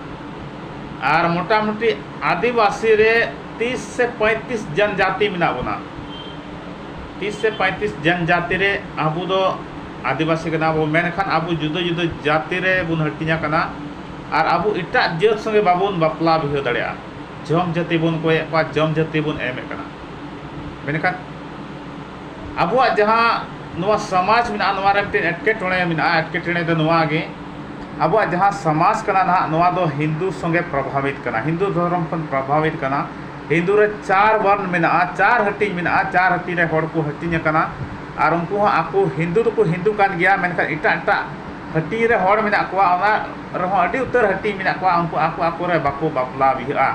ᱟᱨ ᱢᱚᱴᱟᱢᱩᱴᱤ ᱟᱹᱫᱤᱵᱟᱹᱥᱤ ᱨᱮ ᱛᱤᱥ ᱥᱮ ᱯᱚᱸᱭᱛᱨᱤᱥ ᱡᱚᱱ ᱡᱟᱹᱛᱤ ᱢᱮᱱᱟᱜ ᱵᱚᱱᱟ ᱛᱤᱥ ᱥᱮ ᱯᱚᱸᱭᱛᱨᱤᱥ ᱡᱚᱱ ᱡᱟᱹᱛᱤ ᱨᱮ ᱟᱵᱚ ᱫᱚ ᱟᱹᱫᱤᱵᱟᱹᱥᱤ ᱠᱟᱱᱟ ᱵᱚ ᱢᱮᱱᱠᱷᱟᱱ ᱟᱵᱚ ᱡᱩᱫᱟᱹ ᱡᱩᱫᱟᱹ ᱡᱟᱹᱛᱤ ᱨᱮ ᱵᱚᱱ ᱦᱟᱹᱴᱤᱧ ᱟᱠᱟᱱᱟ ᱟᱨ ᱟᱵᱚ ᱮᱴᱟᱜ ᱡᱟᱹᱛ ᱥᱚᱸᱜᱮ ᱵᱟᱵᱚᱱ ᱵᱟᱯᱞᱟ ᱵᱤᱦᱟᱹ ᱫᱟᱲᱮᱭᱟᱜᱼᱟ ᱡᱚᱢ ᱡᱟᱹᱛᱤ ᱵᱚᱱ ᱠᱚᱭᱮᱫ ᱠᱚᱣᱟ ᱡᱚᱢ ᱡᱟᱹᱛᱤ ᱵᱚᱱ ᱮᱢᱮᱫ ᱠᱟᱱᱟ ᱢᱮᱱᱠᱷᱟᱱ ᱟᱵᱚᱣᱟᱜ ᱡᱟᱦᱟᱸ ᱱᱚᱣᱟ ᱥᱚᱢᱟᱡᱽ ᱢᱮᱱᱟᱜᱼᱟ ᱱᱚᱣᱟ ᱨᱮ ᱢᱤᱫᱴᱮᱱ ᱮᱴᱠᱮᱴᱚᱬᱮ ᱢᱮᱱᱟᱜᱼᱟ ᱮᱴᱠᱮᱴᱚᱬᱮ ᱫᱚ ᱱᱚᱣᱟ ᱜᱮ ᱟᱵᱚᱣᱟᱜ ᱡᱟᱦᱟᱸ ᱥᱚᱢᱟᱡᱽ ᱠᱟᱱᱟ ᱱᱟᱦᱟᱜ ᱱᱚᱣᱟ ᱫᱚ ᱦᱤᱱᱫᱩ ᱥᱚᱸᱜᱮ ᱯᱨᱚᱵᱷᱟᱵᱤᱛ ᱠᱟᱱᱟ ᱦᱤᱱᱫᱩ ᱫᱷᱚᱨᱚᱢ ᱠᱷᱚᱱ ᱯᱨᱚᱵᱷᱟᱵᱤᱛ ᱠᱟᱱᱟ ᱦᱤᱱᱫᱩ ᱨᱮ ᱪᱟᱨ ᱵᱚᱨᱱ ᱢᱮᱱᱟᱜᱼᱟ ᱪᱟᱨ ᱦᱟᱹᱴᱤᱧ ᱢᱮᱱᱟᱜᱼᱟ ᱪᱟᱨ ᱦᱟᱹᱴᱤᱧ ᱨᱮ ᱦᱚᱲ ᱠᱚ ᱦᱟᱹᱴᱤᱧ ᱟᱠᱟᱱᱟ ᱟᱨ ᱩᱱᱠᱩ ᱦᱚᱸ ᱟᱠᱚ ᱦᱤᱱᱫᱩ ᱫᱚᱠᱚ ᱦᱤᱱᱫᱩ ᱠᱟᱱ ᱜᱮᱭᱟ ᱢᱮᱱᱠᱷᱟᱱ ᱮᱴᱟᱜ ᱮᱴᱟᱜ ᱦᱟᱹᱴᱤᱧ ᱨᱮ ᱦᱚᱲ ᱢᱮᱱᱟᱜ ᱠᱚᱣᱟ ᱚᱱᱟ ᱨᱮᱦᱚᱸ ᱟᱹᱰᱤ ᱩᱛᱟᱹᱨ ᱦᱟᱹᱴᱤᱧ ᱢᱮᱱᱟᱜ ᱠᱚᱣᱟ ᱩᱱᱠᱩ ᱟᱠᱚ ᱟᱠᱚ ᱨᱮ ᱵᱟᱠᱚ ᱵᱟᱯᱞᱟ ᱵᱤᱦᱟᱹᱜᱼᱟ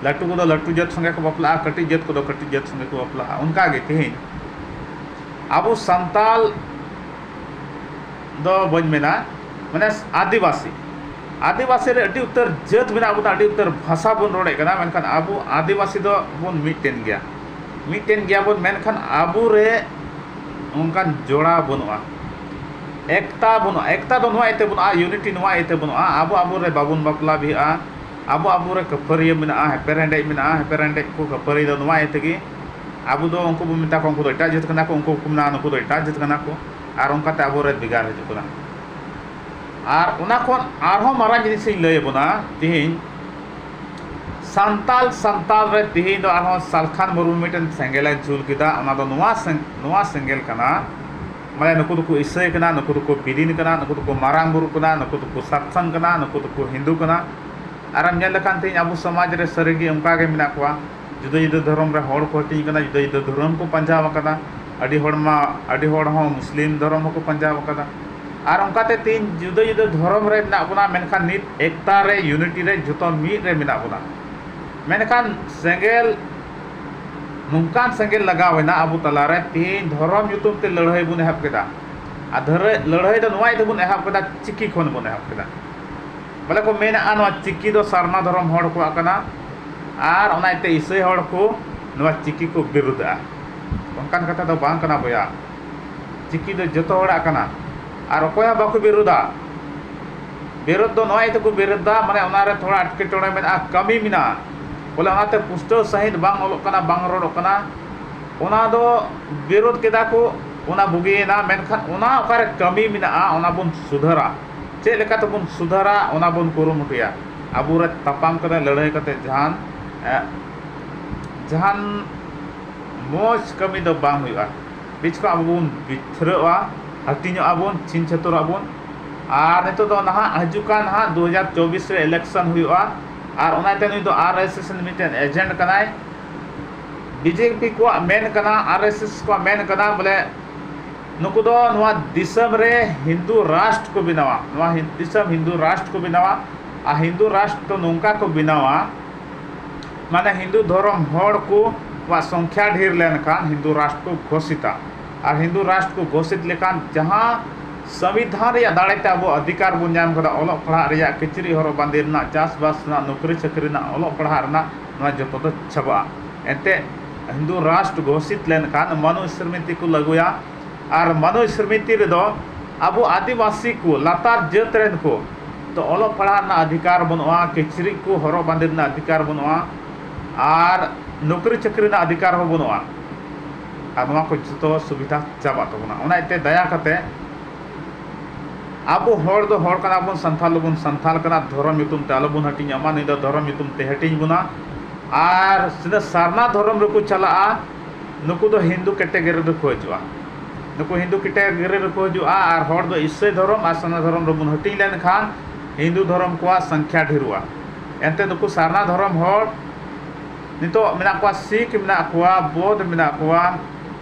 ᱞᱟᱹᱴᱩ ᱠᱚᱫᱚ ᱞᱟᱹᱴᱩ ᱡᱟᱹᱛ ᱥᱚᱸᱜᱮ ᱠᱚ ᱵᱟᱯᱞᱟᱜᱼᱟ ᱠᱟᱹᱴᱤᱡ ᱡᱟᱹᱛ ᱠᱚᱫᱚ ᱠᱟᱹᱴᱤᱡ ᱡᱟᱹᱛ ᱥᱚᱸᱜᱮ ᱠᱚ ᱵᱟᱯᱞᱟᱜᱼᱟ ᱚᱱᱠᱟ ᱜᱮ ᱛᱮᱦᱮᱧ ᱟᱵᱚ ᱥᱟᱱᱛᱟᱞ ᱫᱚ ᱵᱟᱹᱧ ᱢᱮᱱᱟ ᱢᱟᱱᱮ ᱟᱹᱫᱤᱵᱟᱹᱥᱤ ᱟᱹᱫᱤᱵᱟᱹᱥᱤ ᱨᱮ ᱟᱹᱰᱤ ᱩᱛᱟᱹᱨ ᱡᱟᱹᱛ ᱢᱮᱱᱟᱜ ᱵᱚᱱᱟ ᱟᱹᱰᱤ ᱩᱛᱟᱹᱨ ᱵᱷᱟᱥᱟ ᱵᱚᱱ ᱨᱚᱲᱮᱫ ᱠᱟᱱᱟ ᱢᱮᱱᱠᱷᱟᱱ ᱟᱵᱚ ᱟᱹᱫᱤᱵᱟᱹᱥᱤ ᱫᱚᱵᱚᱱ ᱢᱤᱫᱴᱮᱱ ᱜᱮᱭᱟ ᱢᱤᱫᱴᱮᱱ ᱜᱮᱭᱟ ᱵᱚᱱ ᱢᱮᱱᱠᱷᱟᱱ ᱟᱵᱚ ᱨᱮ ᱚᱱᱠᱟᱱ ᱡᱚᱲᱟᱣ ᱵᱟᱹᱱᱩᱜᱼᱟ ᱮᱠᱛᱟ ᱵᱟᱹᱱᱩᱜᱼᱟ ᱮᱠᱛᱟ ᱫᱚ ᱱᱚᱣᱟ ᱤᱭᱟᱹᱛᱮ ᱵᱟᱹᱱᱩᱜᱼᱟ ᱤᱭᱩᱱᱤᱴᱤ ᱱᱚᱣᱟ ᱤᱭᱟᱹᱛᱮ ᱵᱟᱹᱱᱩᱜᱼᱟ ᱟᱵᱚ ᱟᱵᱚ ᱨᱮ ᱵᱟᱵᱚᱱ ᱵᱟᱯᱞᱟ ᱵᱤᱦᱟᱹᱜᱼᱟ ᱟᱵᱚ ᱟᱵᱚ ᱨᱮ ᱠᱷᱟᱹᱯᱟᱹᱨᱤᱭᱟᱹ ᱢᱮᱱᱟᱜᱼᱟ ᱮᱯᱮᱨ ᱦᱮᱸᱰᱮᱡ ᱢᱮᱱᱟᱜᱼᱟ ᱮᱯᱮᱨ ᱦᱮᱸᱰᱮᱡ ᱠᱚ ᱠᱷᱟᱹᱯᱟᱹᱨᱤ ᱫᱚ ᱱᱚᱣᱟ ᱤᱭᱟᱹ ᱛᱮᱜᱮ ᱟᱵᱚ ᱫᱚ ᱩᱱᱠᱩ ᱵᱚᱱ ᱢᱮᱛᱟ ᱠᱚᱣᱟ ᱩᱱᱠᱩ ᱫᱚ ᱮᱴᱟᱜ ᱡᱟᱹᱛ ᱠᱟᱱᱟ ᱠᱚ ᱩᱱᱠᱩ ᱠᱚ ᱢᱮᱱᱟ ᱱᱩᱠᱩ ᱫᱚ ᱮᱴᱟᱜ ᱡᱟᱹᱛ ᱠᱟᱱᱟ ᱠᱚ ᱟᱨ ᱚᱱᱠᱟ ᱛᱮ ᱟᱵᱚ ᱨᱮ ᱵᱷᱮᱜᱟᱨ ᱦᱤᱡᱩᱜ ᱠᱟᱱᱟ ᱟᱨ ᱚᱱᱟ ᱠᱷᱚᱱ ᱟᱨᱦᱚᱸ ᱢᱟᱨᱟᱝ ᱡᱤᱱᱤᱥ ᱤᱧ ᱞᱟᱹᱭ ᱟᱵᱚᱱᱟ ᱛᱮᱦᱤᱧ ᱥᱟᱱᱛᱟᱞ ᱥᱟᱱᱛᱟᱞ ᱨᱮ ᱛᱤᱦᱤᱧ ᱫᱚ ᱟᱨᱦᱚᱸ ᱥᱟᱞᱠᱷᱟᱱ ᱢᱩᱨᱢᱩ ᱢᱤᱫᱴᱮᱱ ᱥᱮᱸᱜᱮᱞᱮ ᱡᱩᱞ ᱠᱮᱫᱟ ᱚᱱᱟ ᱫᱚ ᱱᱚᱣᱟ ᱱᱚᱣᱟ ᱥᱮᱸᱜᱮᱞ ᱠᱟᱱᱟ ᱢᱟᱱᱮ ᱱᱩᱠᱩ ᱫᱚᱠᱚ ᱤᱥᱟᱹᱭ ᱠᱟᱱᱟ ᱱᱩᱠᱩ ᱫᱚᱠᱚ ᱵᱤᱞᱤᱱ ᱠᱟᱱᱟ ᱱᱩᱠᱩ ᱫᱚᱠᱚ ᱢᱟᱨᱟᱝ ᱵᱩᱨᱩ ᱠᱟᱱᱟ ᱱᱩᱠᱩ ᱫᱚᱠᱚ ᱥᱟᱨᱛᱷᱚᱱ ᱠᱟᱱᱟ ᱱᱩᱠᱩ ᱫᱚᱠᱚ ᱦᱤᱱᱫᱩ ᱠᱟᱱᱟ ᱟᱨᱮᱢ ᱧᱮᱞ ᱞᱮᱠᱷᱟᱱ ᱛᱤᱦᱤᱧ ᱟᱵᱚ ᱥᱚᱢᱟᱡᱽ ᱨᱮ ᱥᱟᱹᱨᱤ ᱜᱮ ᱚᱱᱠᱟ ᱜᱮ ᱢᱮᱱᱟᱜ ᱠᱚᱣᱟ ᱡᱩᱫᱟᱹ ᱡᱩᱫᱟᱹ ᱫᱷᱚᱨᱚᱢ ᱨᱮ ᱦᱚᱲ ᱠᱚ ᱦᱟᱹᱴᱤᱧ ᱟᱠᱟᱱᱟ ᱡᱩᱫᱟᱹ ᱡᱩᱫᱟᱹ ᱫᱷᱚᱨᱚᱢ ᱠᱚ ᱯᱟᱸᱡᱟ ᱟᱠᱟᱫᱟ ᱟᱹᱰᱤ ᱦᱚᱲ ᱢᱟ ᱟᱹᱰᱤ ᱦᱚᱲ ᱦᱚᱸ ᱢᱩᱥᱞᱤᱢ ᱫᱷᱚᱨᱚᱢ ᱦᱚᱸᱠᱚ ᱯᱟᱸᱡᱟ ᱟᱠᱟᱫᱟ ᱟᱨ ᱚᱱᱠᱟ ᱛᱮ ᱛᱮᱦᱮᱧ ᱡᱩᱫᱟᱹ ᱡᱩᱫᱟᱹ ᱫᱷᱚᱨᱚᱢ ᱨᱮ ᱢᱮᱱᱟᱜ ᱵᱚᱱᱟ ᱢᱮᱱᱠᱷᱟᱱ ᱱᱤᱛ ᱮᱠᱛᱟ ᱨᱮ ᱭᱩᱱᱤᱴᱤ ᱨᱮ ᱡᱚᱛᱚ ᱢᱤᱫ ᱨᱮ ᱢᱮᱱᱟᱜ ᱵᱚᱱᱟ ᱢᱮᱱᱠᱷᱟᱱ ᱥᱮᱸᱜᱮᱞ ᱱᱚᱝᱠᱟᱱ ᱥᱮᱸᱜᱮᱞ ᱞᱟᱜᱟᱣ ᱮᱱᱟ ᱟᱵᱚ ᱛᱟᱞᱟ ᱨᱮ ᱛᱮᱦᱮᱧ ᱫᱷᱚᱨᱚᱢ ᱧᱩᱛᱩᱢ ᱛᱮ ᱞᱟᱹᱲᱦᱟᱹᱭ ᱵᱚᱱ ᱮᱦᱚᱵ ᱠᱮᱫᱟ ᱟᱨ ᱫᱷᱟᱹᱨᱟᱹᱭ ᱞᱟᱹᱲᱦᱟᱹᱭ ᱫᱚ ᱱᱚᱣᱟ ᱤᱭᱟᱹᱛᱮ ᱵᱚᱱ ᱮᱦᱚᱵ ᱠᱮᱫᱟ ᱪᱤᱠᱤ ᱠᱷᱚᱱ ᱵᱚᱱ ᱮᱦᱚᱵ ᱠᱮᱫᱟ ᱵᱚᱞᱮ ᱠᱚ ᱢᱮᱱᱮᱫᱼᱟ ᱱᱚᱣᱟ ᱪᱤᱠᱤ ᱫᱚ ᱥᱟᱨᱱᱟ ᱫᱷᱚᱨᱚᱢ ᱦᱚᱲ ᱠᱚᱣᱟᱜ ᱠᱟᱱᱟ ᱟᱨ ᱚᱱᱟ ᱤᱭᱟᱹᱛᱮ ᱤᱥᱟᱹᱭ ᱦᱚᱲ ᱠᱚ ᱱᱚᱣᱟ ᱪᱤᱠᱤ ᱠᱚ ᱵᱤᱨᱩᱫᱷᱼᱟ᱾ ᱚᱱᱠᱟᱱ ᱠᱟᱛᱷᱟ ᱫᱚ ᱵᱟᱝ ᱠᱟᱱᱟ ᱵᱚᱭᱦᱟ᱾ ᱪᱤᱠᱤ ᱫᱚ ᱡᱚᱛᱚ ᱦᱚᱲᱟᱜ ᱠᱟᱱᱟ ᱟᱨ ᱚᱠᱚᱭ ᱦᱚᱸ ᱵᱟᱠᱚ ᱵᱤᱨᱩᱫᱷᱼᱟ᱾ ᱵᱤᱨᱩᱫᱷ ᱫᱚ ᱱᱚᱣᱟ ᱤᱭᱟᱹᱛᱮ ᱠᱚ ᱵᱤᱨᱩᱫᱷᱼᱟ ᱢᱟᱱᱮ ᱚᱱᱟ ᱨᱮ ᱛᱷᱚᱲᱟ ᱮᱴᱠᱮᱴᱚᱬᱮ ᱢᱮᱱᱟᱜᱼᱟ, ᱠᱟᱹᱢᱤ ᱢᱮᱱᱟᱜᱼᱟ᱾ ᱵᱚᱞᱮ ᱚᱱᱟ ᱛᱮ ᱯᱩᱥᱴᱟᱹᱣ ᱥᱟᱺᱦᱤᱡ ᱵᱟᱝ ᱚᱞᱚᱜ ᱠᱟᱱᱟ, ᱵᱟᱝ ᱨᱚᱲᱚᱜ ᱠᱟᱱᱟ᱾ ᱚᱱᱟ ᱫᱚ ᱵᱤᱨᱩᱫᱷ ᱠᱮᱫᱟ ᱠᱚ ᱚᱱᱟ ᱵᱩᱜᱤᱭᱮᱱᱟ ᱢᱮᱱᱠᱷᱟᱱ ᱚᱱᱟ ᱚᱠᱟ ᱨᱮ ᱠᱟᱹᱢᱤ ᱢᱮᱱᱟᱜᱼᱟ ᱚᱱᱟ ᱵᱚᱱ ᱥᱩᱫᱷᱟᱹᱨᱟ᱾ ᱪᱮᱫ ᱞᱮᱠᱟ ᱛᱮᱵᱚᱱ ᱥᱩᱫᱷᱟᱹᱨᱟ ᱚᱱᱟ ᱵᱚᱱ ᱠᱩᱨᱩᱢᱩᱴᱩᱭᱟ᱾ ᱟᱵᱚ ᱨᱮ ᱛᱟᱯᱟᱢ ᱠᱟᱛᱮ ᱞᱟᱹᱲᱦᱟᱹᱭ ᱠᱟᱛᱮ ᱡᱟᱦᱟᱱ ᱡᱟᱦᱟᱱ ᱢᱚᱡᱽ ᱠᱟᱹᱢᱤ ᱫᱚ ᱵᱟᱝ ᱦᱩᱭᱩᱜᱼᱟ᱾ ᱵᱤᱪ ᱠᱷᱚᱱ ᱟᱵᱚ ᱵᱚᱱ ᱵᱤᱛᱷᱨᱟᱹᱜᱼᱟ, ᱦᱟᱹᱴᱤᱧᱚᱜᱼᱟ ᱵᱚᱱ, ᱪᱷᱤᱝ ᱪᱷᱟᱹᱛᱩᱨᱚᱜᱼᱟ ᱵᱚᱱ᱾ ᱟᱨ ᱱᱤᱛᱚᱜ ᱫᱚ ᱱᱟᱦᱟᱜ ᱦᱤᱡᱩᱜ ᱠᱟᱱ ᱱᱟᱦᱟᱜ ᱫᱩ ᱦᱟᱡᱟᱨ ᱪᱚᱵᱽᱵᱤᱥ ᱨᱮ ᱤᱞᱮᱠᱥᱚᱱ ᱦᱩᱭᱩᱜᱼᱟ ᱟᱨ ᱚᱱᱟ ᱤᱭᱟᱹᱛᱮ ᱱᱩᱭ ᱫᱚ ᱟᱨ ᱮᱥ ᱮᱥ ᱨᱮᱱ ᱢᱤᱫᱴᱮᱱ ᱮᱡᱮᱱᱴ ᱠᱟᱱᱟᱭ᱾ ᱵᱤ ᱡᱮ ᱯᱤ ᱠᱚᱣᱟᱜ ᱢᱮᱱ ᱠᱟᱱᱟ ᱟᱨ ᱮᱥ ᱮᱥ ᱠᱚᱣᱟᱜ ᱢᱮᱱ ᱠᱟᱱᱟ ᱵᱚᱞᱮ ᱱᱩᱠᱩ ᱫᱚ ᱱᱚᱣᱟ ᱫᱤᱥᱚᱢ ᱨᱮ ᱦᱤᱱᱫᱩ ᱨᱟᱥᱴᱨ ᱠᱚ ᱵᱮᱱᱟᱣᱟ ᱱᱚᱣᱟ ᱫᱤᱥᱚᱢ ᱦᱤᱱᱫᱩ ᱨᱟᱥᱴᱨ ᱠᱚ ᱵᱮᱱᱟᱣᱟ ᱟᱨ ᱦᱤᱱᱫᱩ ᱨᱟᱥᱴᱨ ᱫᱚ ᱱᱚᱝᱠᱟ ᱠᱚ ᱵᱮᱱᱟᱣᱟ ᱢᱟᱱᱮ ᱦᱤᱱᱫᱩ ᱫᱷᱚᱨᱚᱢ ᱦᱚᱲ ᱠᱚ ᱠᱚᱣᱟᱜ ᱥᱚᱝᱠᱷᱟ ᱰᱷᱮᱨ ᱞᱮᱱᱠᱷᱟᱱ ᱦᱤᱱᱫᱩ ᱨᱟᱥᱴᱨ ᱠᱚ ᱜᱷᱳᱥᱤᱛᱟ ᱟᱨ ᱦᱤᱱᱫᱩ ᱨᱟᱥᱴᱨ ᱠᱚ ᱜᱷᱳᱥᱤᱛ ᱞᱮᱠᱷᱟᱱ ᱡᱟᱦᱟᱸ ᱥᱚᱝᱵᱤᱫᱷᱟᱱ ᱨᱮᱭᱟᱜ ᱫᱟᱲᱮ ᱛᱮ ᱟᱵᱚ ᱚᱫᱷᱤᱠᱟᱨ ᱵᱚᱱ ᱧᱟᱢ ᱠᱟᱫᱟ ᱚᱞᱚᱜ ᱯᱟᱲᱦᱟᱜ ᱨᱮᱭᱟᱜ ᱠᱤᱪᱨᱤᱡ ᱦᱚᱨᱚᱜ ᱵᱟᱸᱫᱮ ᱨᱮᱱᱟᱜ ᱪᱟᱥᱼᱵᱟᱥ ᱨᱮᱱᱟᱜ ᱱᱩᱠᱨᱤ ᱪᱟᱹᱠᱨᱤ ᱨᱮᱱᱟᱜ ᱚᱞᱚᱜ ᱯᱟᱲᱦᱟᱜ ᱨᱮᱱᱟᱜ ᱱᱚᱣᱟ ᱡᱚᱛᱚ ᱫᱚ ᱪᱟᱵᱟᱜᱼᱟ ᱮᱱᱛᱮᱫ ᱦᱤᱱᱫᱩ ᱨᱟᱥᱴᱨ ᱜᱷᱳᱥᱤᱛ ᱞᱮᱱᱠᱷᱟᱱ ᱢᱟᱱᱩᱥ ᱥᱨᱢᱤᱛᱤ ᱠᱚ ᱞᱟᱹᱜᱩᱭᱟ ᱟᱨ ᱢᱟᱱᱩᱥ ᱥᱨᱢᱤᱛᱤ ᱨᱮᱫᱚ ᱟᱵᱚ ᱟᱹᱫᱤᱵᱟᱹᱥᱤ ᱠᱚ ᱞᱟᱛᱟᱨ ᱡᱟᱹᱛ ᱨᱮᱱ ᱠᱚ ᱫᱚ ᱚᱞᱚᱜ ᱯᱟᱲᱦᱟᱜ ᱨᱮᱱᱟᱜ ᱟᱫᱷᱤᱠᱟᱨ ᱵᱟᱹᱱᱩᱜᱼᱟ ᱠᱤᱪᱨᱤᱡ ᱠᱚ ᱦᱚᱨᱚᱜ ᱵᱟᱸᱫᱮ ᱨᱮᱱᱟᱜ ᱟᱫᱷᱤᱠᱟᱨ ᱵᱟᱹᱱᱩᱜᱼᱟ ᱟᱨ ᱱᱩᱠᱨᱤ ᱪᱟᱹᱠᱨᱤ ᱨᱮᱱᱟᱜ ᱟᱫᱷᱤᱠᱟᱨ ᱦᱚᱸ ᱵᱟᱹᱱᱩᱜᱼᱟ ᱟᱨ ᱱᱚᱣᱟ ᱠᱚ ᱡᱚᱛᱚ ᱥᱩᱵᱤᱫᱷᱟ ᱪᱟᱵᱟᱜ ᱛᱟᱵᱚᱱᱟ ᱚᱱᱟ ᱤᱭᱟᱹᱛᱮ ᱫᱟᱭᱟ ᱠᱟᱛᱮᱫ ᱟᱵᱚ ᱦᱚᱲ ᱫᱚ ᱦᱚᱲ ᱠᱟᱱᱟ ᱵᱚᱱ, ᱥᱟᱱᱛᱷᱟᱞ ᱫᱚᱵᱚᱱ ᱥᱟᱱᱛᱷᱟᱞ ᱠᱟᱱᱟ᱾ ᱫᱷᱚᱨᱚᱢ ᱧᱩᱛᱩᱢ ᱛᱮ ᱟᱞᱚ ᱵᱚᱱ ᱦᱟᱹᱴᱤᱧᱚᱜ ᱢᱟ᱾ ᱱᱩᱭ ᱫᱚ ᱫᱷᱚᱨᱚᱢ ᱧᱩᱛᱩᱢ ᱛᱮ ᱦᱟᱹᱴᱤᱧ ᱵᱚᱱᱟ᱾ ᱟᱨ ᱛᱤᱱᱟᱹᱜ ᱥᱟᱨᱱᱟ ᱫᱷᱚᱨᱚᱢ ᱨᱮᱠᱚ ᱪᱟᱞᱟᱜᱼᱟ, ᱱᱩᱠᱩ ᱫᱚ ᱦᱤᱱᱫᱩ ᱠᱮᱴᱮᱜᱚᱨᱤ ᱨᱮᱠᱚ ᱦᱤᱡᱩᱜᱼᱟ᱾ ᱱᱩᱠᱩ ᱦᱤᱱᱫᱩ ᱠᱮᱴᱮᱜᱚᱨᱤ ᱨᱮᱠᱚ ᱦᱤᱡᱩᱜᱼᱟ ᱟᱨ ᱦᱚᱲ ᱫᱚ ᱤᱥᱟᱹᱭ ᱫᱷᱚᱨᱚᱢ ᱟᱨ ᱥᱟᱨᱱᱟ ᱫᱷᱚᱨᱚᱢ ᱨᱮᱵᱚᱱ ᱦᱟᱹᱴᱤᱧ ᱞᱮᱱ ᱠᱷᱟᱱ ᱦᱤᱱᱫᱩ ᱫᱷᱚᱨᱚᱢ ᱠᱚᱣᱟᱜ ᱥᱚᱝᱠᱷᱭᱟ ᱰᱷᱮᱨᱚᱜᱼᱟ᱾ ᱮᱱᱛᱮ ᱱᱩᱠᱩ ᱥᱟᱨᱱᱟ ᱫᱷᱚᱨᱚᱢ ᱦᱚᱲ ᱱᱤᱛᱚᱜ ᱢᱮᱱᱟᱜ ᱠᱚᱣᱟ, ᱥᱤᱠᱷ ᱢᱮᱱᱟᱜ ᱠᱚᱣᱟ, ᱵᱚᱣᱫᱷ ᱢᱮᱱᱟᱜ ᱠᱚᱣᱟ᱾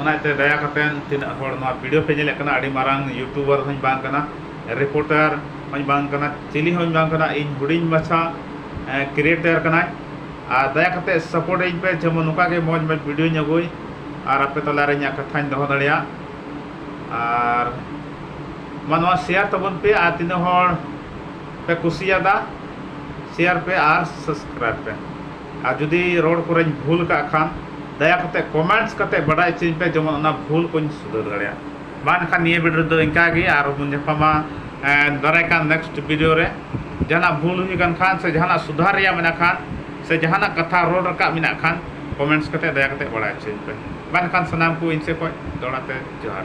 ᱚᱱᱟ ᱛᱮ ᱫᱟᱭᱟ ᱠᱟᱛᱮ ᱛᱤᱱᱟᱹᱜ ᱦᱚᱲ ᱱᱚᱣᱟ ᱵᱷᱤᱰᱤᱭᱳ ᱯᱮ ᱧᱮᱞᱮᱫ ᱠᱟᱱᱟ ᱟᱹᱰᱤ ᱢᱟᱨᱟᱝ ᱤᱭᱩᱴᱩᱵᱟᱨ ᱦᱚᱸᱧ ᱵᱟᱝ ᱠᱟᱱᱟ ᱨᱤᱯᱳᱴᱟᱨ ᱦᱚᱸᱧ ᱵᱟᱝ ᱠᱟᱱᱟ ᱪᱤᱞᱤ ᱦᱚᱸᱧ ᱵᱟᱝ ᱠᱟᱱᱟ ᱤᱧ ᱦᱩᱰᱤᱧ ᱢᱟᱪᱷᱟ ᱠᱨᱤᱭᱮᱴᱟᱨ ᱠᱟᱱᱟᱹᱧ ᱟᱨ ᱫᱟᱭᱟ ᱠᱟᱛᱮ ᱥᱟᱯᱳᱨᱴ ᱟᱹᱧ ᱯᱮ ᱡᱮᱢᱚᱱ ᱱᱚᱝᱠᱟ ᱜᱮ ᱢᱚᱡᱽ ᱢᱚᱡᱽ ᱵᱷᱤᱰᱤᱭᱳᱧ ᱟᱹᱜᱩᱭ ᱟᱨ ᱟᱯᱮ ᱛᱟᱞᱟ ᱨᱮ ᱤᱧᱟᱹᱜ ᱠᱟᱛᱷᱟᱧ ᱫᱚᱦᱚ ᱫᱟᱲᱮᱭᱟᱜ ᱟᱨ ᱢᱟ ᱱᱚᱣᱟ ᱥᱮᱭᱟᱨ ᱛᱟᱵᱚᱱ ᱯᱮ ᱟᱨ ᱛᱤᱱᱟᱹᱜ ᱦᱚᱲ ᱯᱮ ᱠᱩᱥᱤᱭᱟᱫᱟ ᱥᱮᱭᱟᱨ ᱯᱮ ᱟᱨ ᱥᱟᱵᱥᱠᱨᱟᱭᱤᱵᱽ ᱯᱮ ᱟᱨ ᱡᱩᱫᱤ ᱨᱚᱲ ᱠᱚᱨᱮᱧ ᱵᱷᱩᱞ ᱟᱠᱟᱫ ᱠᱷᱟᱱ ᱫᱟᱭᱟ ᱠᱟᱛᱮ ᱠᱚᱢᱮᱱᱴᱥ ᱠᱟᱛᱮ ᱵᱟᱰᱟᱭ ᱚᱪᱚᱧ ᱯᱮ ᱡᱮᱢᱚᱱ ᱚᱱᱟ ᱵᱷᱩᱞ ᱠᱚᱧ ᱥᱩᱫᱷᱟᱹᱨ ᱫᱟᱲᱮᱭᱟᱜ ᱢᱟ ᱮᱱᱠᱷᱟᱱ ᱱᱤᱭᱟᱹ ᱵᱷᱤᱰᱤᱭᱳ ᱨᱮᱫᱚ ᱤᱱᱠᱟ ᱜᱮ ᱟᱨᱦᱚᱸ ᱵᱚᱱ ᱧᱟᱯᱟᱢᱟ ᱫᱟᱨᱟᱭ ᱠᱟᱱ ᱱᱮᱠᱥᱴ ᱵᱷᱤᱰᱤᱭᱳ ᱨᱮ ᱡᱟᱦᱟᱱᱟᱜ ᱵᱷᱩᱞ ᱦᱩᱭ ᱟᱠᱟᱱ ᱠᱷᱟᱱ ᱥᱮ ᱡᱟᱦᱟᱱᱟᱜ ᱥᱩᱫᱷᱟᱹᱨ ᱨᱮᱭᱟᱜ ᱢᱮᱱᱟᱜ ᱠᱷᱟᱱ ᱥᱮ ᱡᱟᱦᱟᱱᱟᱜ ᱠᱟᱛᱷᱟ ᱨᱚᱲ ᱨᱟᱠᱟᱵ ᱢᱮᱱᱟᱜ ᱠᱷᱟᱱ ᱠᱚᱢᱮᱱᱴᱥ ᱠᱟᱛᱮ ᱫᱟᱭᱟ ᱠᱟᱛᱮ ᱵᱟᱰᱟᱭ ᱚᱪᱚᱧ ᱯᱮ ᱢᱟ ᱮᱱᱠᱷᱟᱱ ᱥᱟᱱᱟᱢ ᱠᱚ ᱤᱧ ᱥᱮᱫ ᱠᱷᱚᱱ ᱫᱚᱦᱲᱟ ᱛᱮ ᱡᱚᱦᱟᱨ